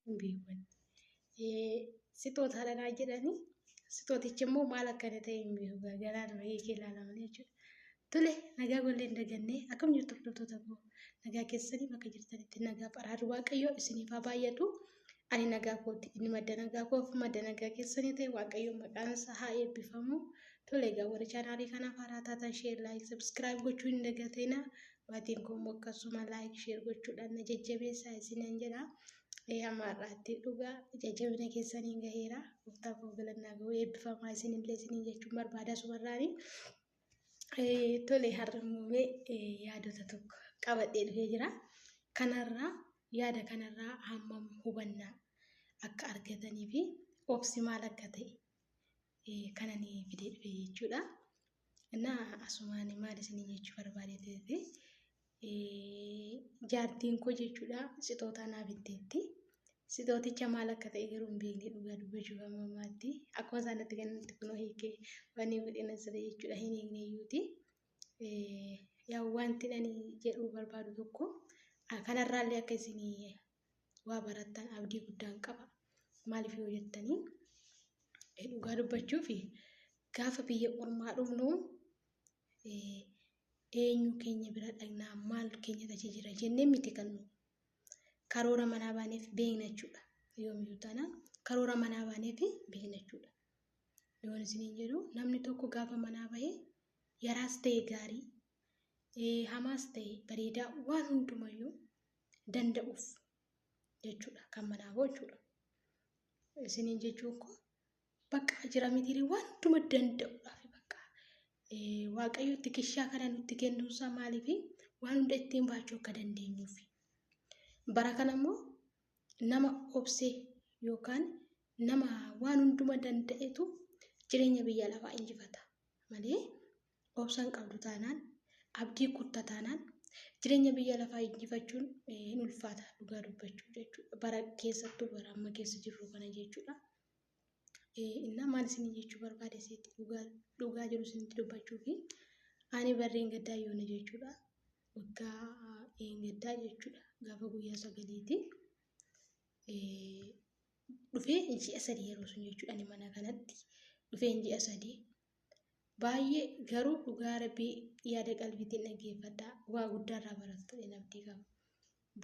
hin beekne. Sixootaadha naa jedhanii sixootichi immoo maal akkana ta'e hin beeku gargaraa dura hiikee ilaalamanii jechuudha. Tole nagaa gollee hin dagannee akkam jirtu hordoftoota koo nagaa keessanii bakka jirtanitti nagaa baraadu waaqayyoo isiniif haa baay'atu. Ani nagaa kooti inni madda nagaa koof madda nagaa keessanii ta'e waaqayyoo maqaan isaa haa eebbifamu. Tole egaa warri chaanaalii kanaaf haaraa taatan sheer laayik sabskiraayib gochuu hin dagatinaa. Maatiin koo immoo akkasuma like share gochuudhaan na jajjabeessaa isinan jedha. Ee hamma har'aatti dhugaa jajjabina keessaniin gaheera. Gooftaa koo galannaa ga'u eebbifamaa isinillee isiniin jechuun barbaada sumarraani. Eh, Tole har'a immoo mee eh, yaadota tokko qabadhee dhufee jira. Kanarraa yaada kanarraa hammam hubannaa akka argatanii fi obsi maal akka ta'e kana ni fidee dhufe jechuudha. Innaa asumaan maal isinii jechuu barbaade ta'e jaartiin koo jechuudha sixootaa naa bitteetti. Sixooticha maal akka ta'e garuu hin beekne dhugaa dubbachuuf amma ammaatti akkuma isaan itti kennutti kunoo hiikee wanni godhina siree jechuudha hin hiikne iyyuuti. Yaa wanti ani jedhuu barbaadu tokko kanarraallee akka isinii waa barattan abdii guddaan qaba. Maaliif yoo jettanii dhugaa dubbachuuf gaafa biyya ormaa dhufnu eenyu keenya bira dhagnaa maal keenya tachi jira jennee miti kan nu karoora manaa baaneef beekna jechuudha. Yoomiyyuu taana karoora manaa baaneef beekna jechuudha. Yoon isiniin jedhu namni tokko gaafa manaa bahee yaraas ta'e gaarii hamaas ta'e bareedaa waan hundumayyuu danda'uuf jechuudha kan manaa boo jechuudha. Isiniin jechuun koo bakka jira mitirii wantuma danda'uudhaaf bakka waaqayyo itti kishaa kana nutti kennuunsaa maaliif waan hunda ittiin baachuu akka dandeenyuuf. Bara kana immoo nama obsee yookaan nama waan hunduma danda'etu jireenya biyya lafaa injifata malee obsa hin qabdu taanaan, abdii kutta taanaan, jireenya biyya lafaa injifachuun hin ulfaata dhugaa dubbachuu jechuudha. Bara keessattuu bara amma keessa jirru kana jechuudha. Innaa maal isin jechuu barbaade seetti dhugaa jiru isinitti dubbachuu fi ani barreen gaddaa yoona jechuudha. Waggaa een gaddaa jechuudha. Gaafa guyyaa sagaliiti. Dhufee ji'a sadii yeroo sun jechuudha ani mana kanatti dhufee ji'a sadii Baay'ee garuu dhugaa rabbii yaada qalbiitiin dhaggeeffadhaa waa guddaa irraa barattu jedheen abdii qaba.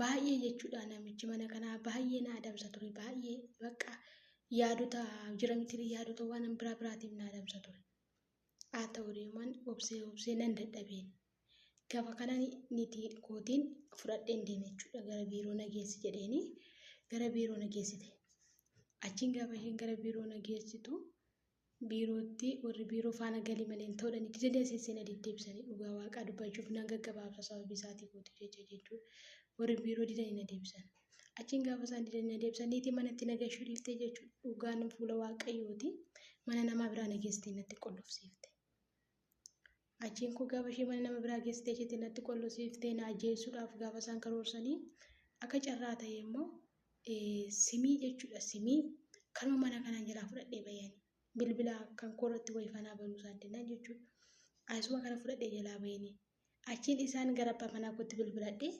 Baay'ee jechuudha namichi mana kanaa baay'ee na adamsa ture baay'ee bakka yaadota jira miti yaadota waan biraa biraatiif na adamsa ture. Haa ta'u deeman obsee obsee nan dadhabeen. Gaafa kana niti kootiin fudhadheen deeme jechuudha gara biiroo na geessi jedheeni gara biiroo na geessite. Achiin gaafa isheen gara biiroo na geessitu biirootti warri biiroo faana galii malee hin ta'uudhaan itti jedhee asiin seenaa deddeebisanii dhugaa waaqaa dubbachuuf nan gaggabaabsa sababii isaatii kootu jecha jechuun warri biiroo didanii na deebisan. Achiin gaafa isaan didanii na deebisan niitii manatti na gashuu dhiiftee jechuun dhugaan fuula waaqayyooti mana namaa biraa na geessitee natti qollofsiifte. Achiin koo gaafa ishee mana nama biraa geessitee isheetti natti qollosiiftee na ajjeessuudhaaf gaafa isaan karoorsanii akka carraa ta'ee immoo simii jechuudha simii kanuma mana kanaan jalaa fudhadhee bayani bilbila kan koo irratti wayii fanaa banuu isaan dinnan jechuudha. Ayisuma kana fudhadhee jalaa bayani achiin isaan gara abbaa manaa kootti bilbiladhee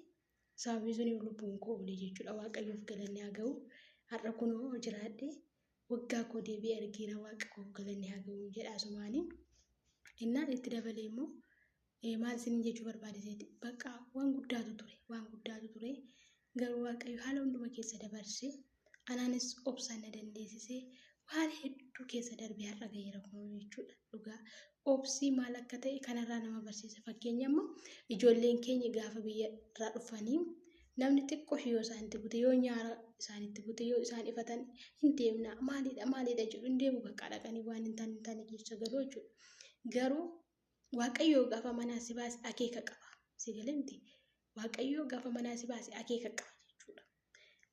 sababii suniif lubbuun koo oole jechuudha waaqayyoof galanni haa ga'u har'a kunoo jiraadhee waggaa koo deebi'ee argeera waaqa koof galanni haa ga'u jedha asumaanii. Innaan itti dabalee immoo eh, maal isiniin jechuu barbaade seeti bakka waan guddaatu ture waan guddaatu ture garuu waaqayyo haala hunduma keessa dabarse anaanis obsaan na dandeessise waan hedduu keessa darbe har'a ga'eera kun jechuudha dhugaa obsii maal akka ta'e kanarraa nama barsiisa fakkeenya amma ijoolleen keenya gaafa biyya irraa dhufanii Namni xiqqoo ishee yoo isaanitti bute, yoo nyaara isaanitti bute, yoo isaan ifatan hin deemna maalidha maalidha jedhu hin deemu bakka dhaqanii waan hin taane hin taane keessa galuu jechuudha. Garuu Waaqayyoo gaafa manaa si baase akeeka qaba. Si galemti. Waaqayyoo gaafa manaa si baase akeeka qaba jechuudha.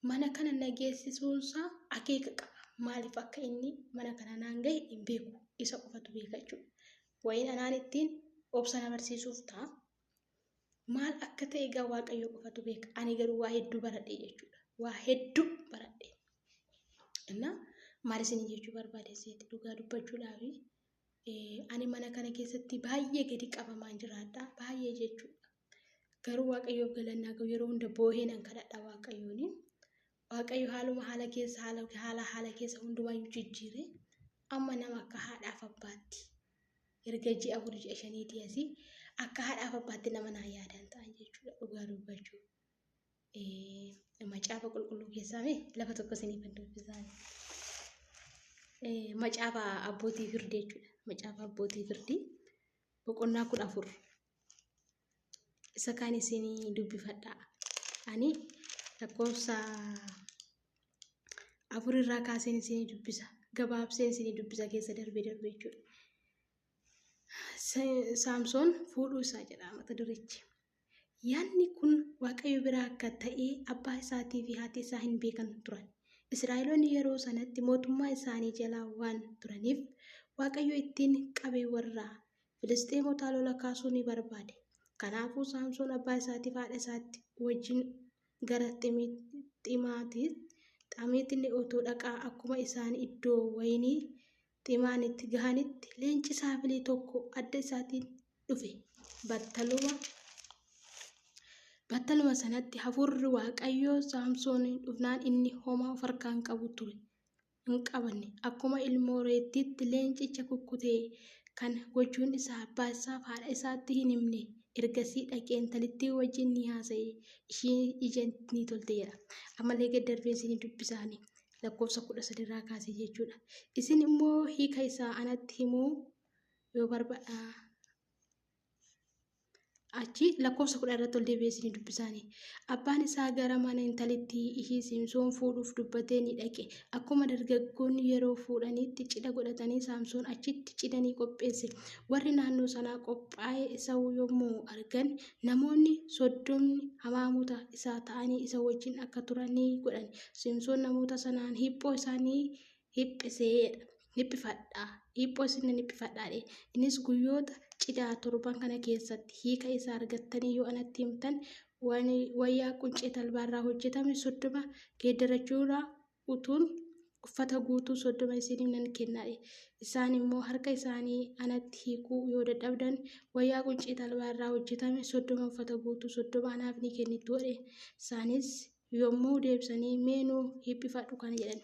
Mana kana na geessisuunsaa akeeka qaba. Maaliif akka inni mana kana naan gahe hin beeku. Isa qofatu beeka jechuudha. Wayiin anaan ittiin obsa na barsiisuuf ta'a. Maal akka ta'e egaa Waaqayyo qofatu beeka. Ani garuu waa hedduu baradhe jechuudha. Waa hedduu baradhe. Innaa maal isin jechuu barbaade seeti dhugaa dubbachuudhaafi ani mana kana keessatti baay'ee gadi qabamaan jiraadha. Baay'ee jechuudha. Garuu Waaqayyoof galannaa ga'u yeroo hunda boohee nan kadhadha Waaqayyooni. Waaqayyo haaluma haala keessa haala haala haala keessa hundumaayyuu jijjiire amma nama akka haadhaaf abbaatti erga ji'a afur ji'a shaniitii asii akka haadhaaf abbaatti nama naa yaadaan ta'an jechuudha dhugaa dubbachuu. Macaafa qulqulluu keessaa mee lafa tokko isiniif hin dubbisaan. Macaafa abbootii firdii jechuudha. Macaafa abbootii firdii boqonnaa kudha afur isa kaan isinii dubbifadha ani lakkoofsa afur irraa kaaseen isinii dubbisa gabaabseen isinii dubbisa keessa darbe darbe jechuudha saamsoon fuudhuu isaa jedha mata durichi yaadni kun waaqayyo biraa akka ta'e abbaa isaatii fi haati isaa hin beekan turan israa'eloonni yeroo sanatti mootummaa isaanii jalaa waan turaniif waaqayyo ittiin qabee warra Filisxeemotaa lola kaasuu ni barbaade. Kanaafuu Saamsoon abbaa isaatiif haadha isaatti wajjin gara Xamiititti otoo dhaqaa akkuma isaan iddoo wayinii Ximaanitti gahanitti leenci saafilii tokko adda isaatiin dhufe. Battaluma battaluma sanatti hafuurri Waaqayyoo Saamsooniin dhufnaan inni homaa of harkaan qabu ture. hin qabanne. Akkuma ilmoo reettiitti leencicha kukkute. Kana gochuun isaa abbaa isaaf haadha isaatti hin himne. Ergasii dhaqee intalittii wajjin ni haasa'e. Ishiin ija ni tolte jedha. Ammallee gad darbeen isinii dubbisaani. Lakkoofsa kudha sadi irraa kaasee jechuudha. Isin immoo hiika isaa anatti himuu yoo barbaadha. achi lakkoofsa kudha irratti ol deebi'ee isin dubbisaanii abbaan isaa gara mana intalittii ishii saamsoon fuudhuuf dubbatee ni dhaqe akkuma dargaggoonni yeroo fuudhaniitti cidha godhatanii saamsoon achitti cidha ni qopheesse warri naannoo sanaa qophaa'ee isa yommuu argan namoonni soddomni hamaamota isaa ta'anii isa wajjin akka turan ni godhan saamsoon namoota sanaan hiphoo isaanii hiphiseedha. Hiphifadhaa. Dhiiphoo isin nan hiphifadhaa dhee. Innis guyyoota cidhaa torban kana keessatti hiika isaa argattanii yoo anatti himtan waan wayyaa quncee talbaarraa hojjetame soddoma geeddarachuurraa utuun uffata guutuu soddoma isiniif nan kennaadhe. Isaan immoo harka isaanii anatti hiikuu yoo dadhabdan wayyaa quncee talbaarraa hojjetame soddoma uffata guutuu soddoma anaaf ni kennittu jedhe. Isaanis yommuu deebisanii mee nuu hiphifadhu kana jedhan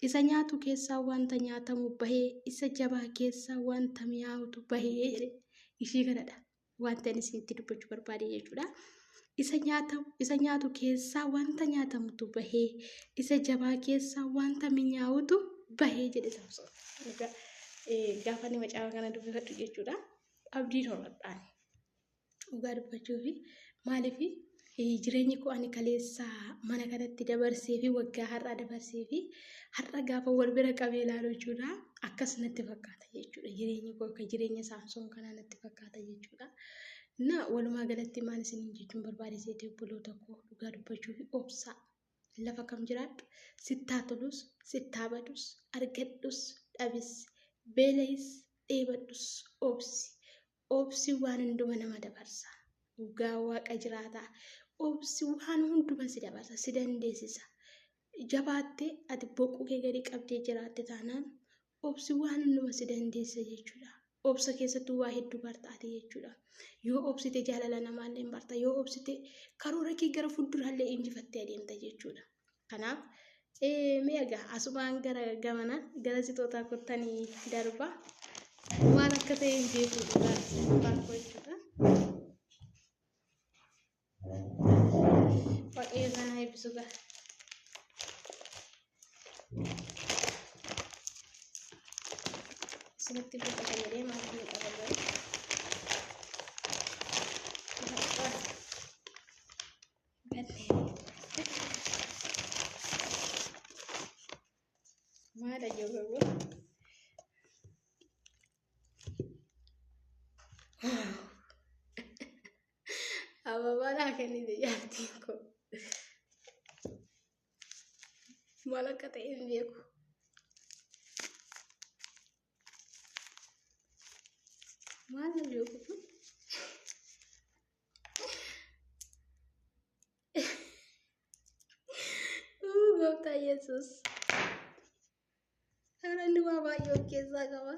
isa nyaatu keessaa wanta nyaatamu bahee isa jabaa keessaa wanta mi'aawutu bahee jedhe ishii kanadha wanta inni isinitti dubbachuu barbaade jechuudha. Isa nyaata isa nyaatu keessaa wanta nyaatamutu bahee isa jabaa keessaa wanta mi'aawutu bahee jedhe Samsoon. Egaa eh, gaafa inni macaafa kana dubbifadhu jechuudha abdiin horadhaan Dhugaa dubbachuufi maaliifi jireenyi koo ani kaleessa mana kanatti dabarsee fi waggaa har'aa dabarsee fi har'a gaafa wal bira qabee ilaalu jechuudha akkas natti fakkaata jechuudha jireenyi koo akka jireenya saamsoon kanaa natti fakkaata jechuudha. Na walumaa galatti maal isiniin jechuun barbaade seetee obboloota koo dhugaa dubbachuu fi obsaa lafa kam jiraadhu sittaa tolus sittaa badus argadhus dhabis beela'is dheebadhus obsi Obsi waan hunduma nama dabarsa. Dhugaa waaqa jiraataa. Obsi waan hunduma si dabarsa, si dandeessisa. Jabaattee ati boquu kee gadi qabdee jiraatte taanaan obsi waan hunduma si dandeessisa jechuudha. Obsa keessattuu waa hedduu barta ati jechuudha. Yoo obsite jaalala namaallee hin barta. Yoo obsite karoora kee gara fuulduraallee injifattee adeemta jechuudha. Kanaaf mee egaa asumaan gara gamana gara sixootaa kottanii darba. Waan akka ta'e hin beeku dhugaa baakoo jechuudha. Waaqayyo sana eebbisu gaa. Isinitti buufatanii deemaa kan qabaman. Maala jababo. Ababaa naa kennite jaartiin koo. Maal akka ta'e hin beeku. Maal hin beeku kun? Uu, Gooftaa Yesuus. Kanalli waa baay'ee of keessaa qaba.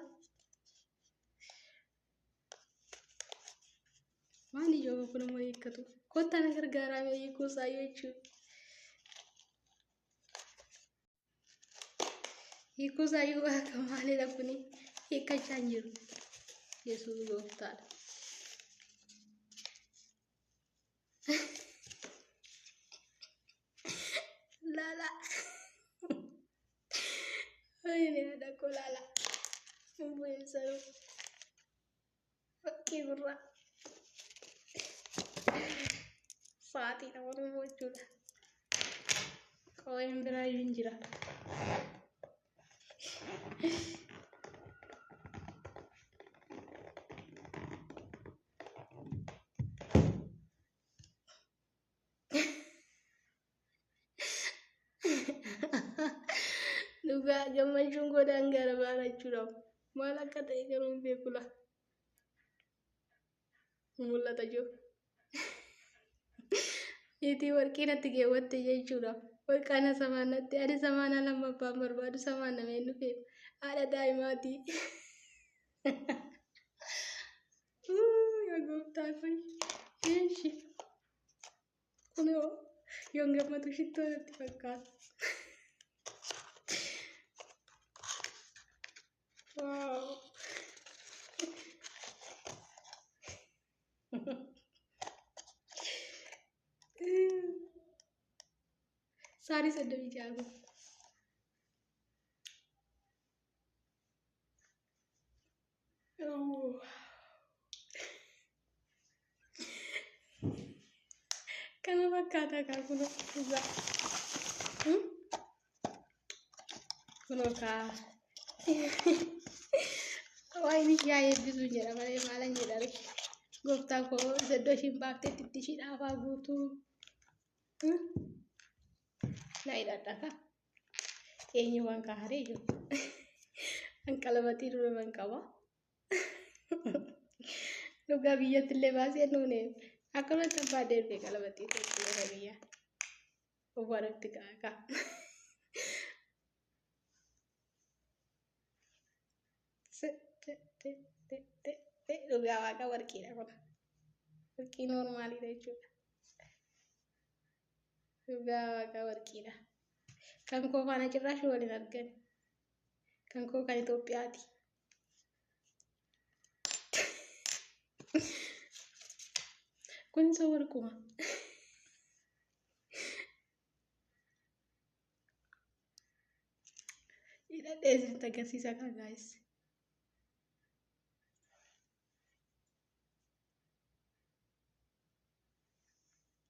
Waan ijoo tokko nama hiikkatu. Kottaa na gargaaraa mee hiikuu isaa jechuudha. Hiikuu isaa iyyuu akka maalidha kuni hiikkachaa hin jiru. Yesuus gooftaadha. Laala. Wayine haadha koo laala. Hin bu'in saruu. Fakkii birraa. Sa'aatiidha Oromoo jechuudha. Qawween biraa iyyuu hin jira. Dhugaa gammachuun koo daangaa irra baana jechuudhaaf maal akka ta'e garuu hin beeku laa. Mul'ata jiru. Itii warqii natti keewwatte jechuudha. Warqaana samaan natti ani samaana lammaffaan barbaadu samaan nameen dhufeef haadha daa'imaatii. Yaa gooftaa kun. Eeshi. Kunoo yoon gammadu shittoo natti fakkaata. Waaw. Saarii soddomii ja'a. Kana fakkaataa kaa kunoo dhugaa. Hmm? Kunoo kaa. Waayini yaa eebbisu jedha malee maalan jedha ree. Gooftaa koo iddoo ishiin baaftetti itti ishii dhaafaa guutuu. Hmm? Na hidhadha kaa. Eenyu waan kaa haree jiru. An qalamatii dura man qaba. Dhugaa biyyatti illee baasee nuune akkanumatti abbaa deemee qalamatii tokko biyya. Uwwaa nutti kaakaa. Dhugaa waaqa warqiidha kun. Warqii noormaaliidha jechuudha. Dhugaa waaqaa warqiidha. Kan koo faana cirraashi wal hin argan. Kan koo kan Itoophiyaati. Kun isa warquma. Hidhadhee isinitti agarsiisa kaa gaayis.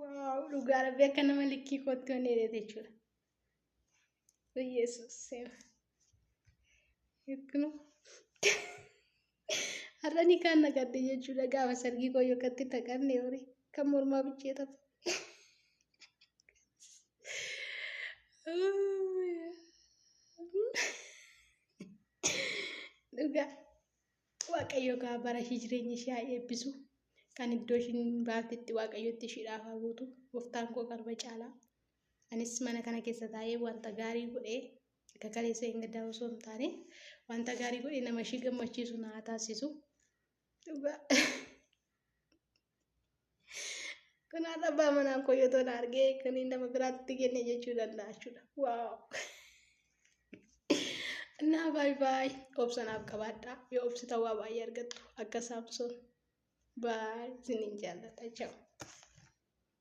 Waaw dhugaa rabbi akka nama likkii kootti waan dheerate jechuudha. Yesuus seema. Yookiin har'a ni kaan naqadde jechuudha gaafa sargii koo yookaan itti naqanne horii kan mormaa bichee taphatu. Dhugaa. Waaqayyo gaa bara ishii jireenya ishii haa eebbisu. Kan iddoo ishiin baatetti waaqayyotti ishiidhaaf haa guutu. Gooftaan koo qalma caalaa. Anis mana kana keessa taa'ee wanta gaarii godhee akka kaleessa hin gaddaa osoo hin taane wanta gaarii godhee nama ishii gammachiisu na haa taasisu. Dhugaa. Kun har'a abbaa manaan koo yoo tola argee kan inni nama biraatti kenne jechuu danda'a jechuudha. Waaw! Naa baay baay obsanaaf qabaadhaa yoo obsita waa baay'ee argattu akka saamsoon baay isiniin jaalladha jechuudha.